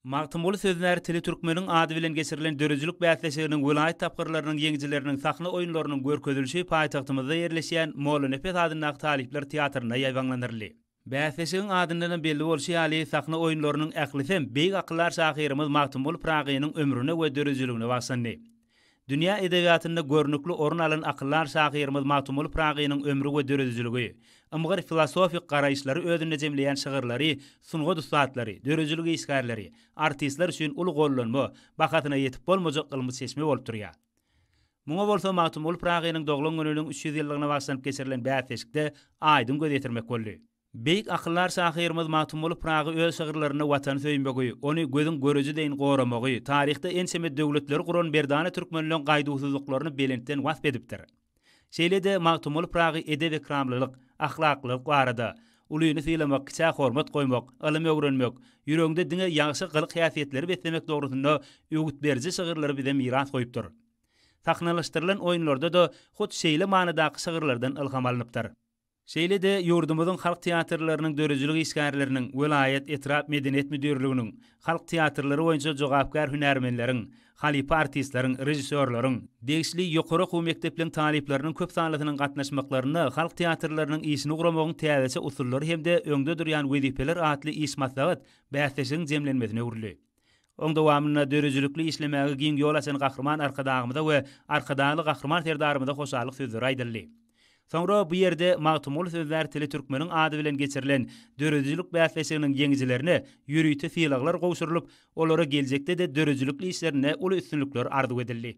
Magtymguly Söznär tili türkmeniň ady bilen geçirilen döredijilik bäsleşiginiň welaýat tapgyrlarynyň ýeňijileriniň sahna oýunlarynyň görkezilişi paýtagtymyzda ýerleşýän Mollanepes adyndaky talyplar teatrynda ýaýbaňlandyryldy. Bäsleşigiň adyndanam belli bolşy ýaly, sahna oýunlarynyň ählisem beýik akyldar şahyrymyz Magtymguly Pyragynyň ömrüne we döredijiligine bagyşlandy. Dünýä edebiýatynda görnükli orun alan akyldar şahyrymyz Magtymguly Pyragynyň ömri we döredijiligi, ymgyr filosofik garaýyşlary özünde jemleýän şygyrlary sungat ussatlary, döredijilik işgärleri, artistler üçin uly gollanma, bahasyna ýetip bolmajak ylmy çeşme bolup durýar. Muňa bolsa Magtymguly Pyragynyň doglan gününiň üç ýüz ýyllygyna bagyşlanyp geçirilen bäsleşikde aýdyň göz ýetirmek boldy. Beýik akyldar şahyrymyz Magtymguly Pyragy öz şygyrlarynda Watany söýmegi, ony gözüň göreji deýin goramagy, taryhda ençeme döwletleri guran merdana türkmenleň gaýduwsyzlyklaryny belentden wasp edipdir. Şeýle-de Magtymguly Pyragy edep-ekramlylyk, ahlaklylyk barada, Ulyny sylamak, kiçä hormat goýmak, ylym öwrenmek, ýüregiňde diňe ýagşy gylyk-häsiýetleri beslemek dogrusynda öwüt beriji şygyrlary bize miras goýupdyr. Sahnalaşdyrylan oýunlarda-da hut şeýle manydaky şygyrlardan ylham alnypdyr. Şeýle-de ýurdumyzyň halk teatrlarynyň döredijilik işgärleriniň, welaýat, etrap medeniýet müdirliginiň, halk teatrlary boýunça jogapkär hünärmenleriň, halypa artistleriň, režissýorlaryň, degişli ýokary okuw mekdepleriň talyplarynyň köp sanlysynyň gatnaşmaklarynda Halk teatrlarynyň işini guramagyň täzeçe usullary hem-de öňde durýan wezipeler atly iş maslahat bäsleşigiň jemlenmesine öwrüldi. Oň dowamynda döredijilikli işlemäge giň ýol açan Gahryman Arkadagymyza we Arkadagly Gahryman Serdarymyza hoşallyk sözleri aýdyldy. Soňra bu ýerde Magtymguly sözlär tili türkmeniň ady bilen geçirilen döredijilik bäsleşiginiň ýeňijilerine ýörite sylaglar gowşurylyp, olara geljekde-de döredijilikli işlerinde uly üstünlikler arzuw edildi.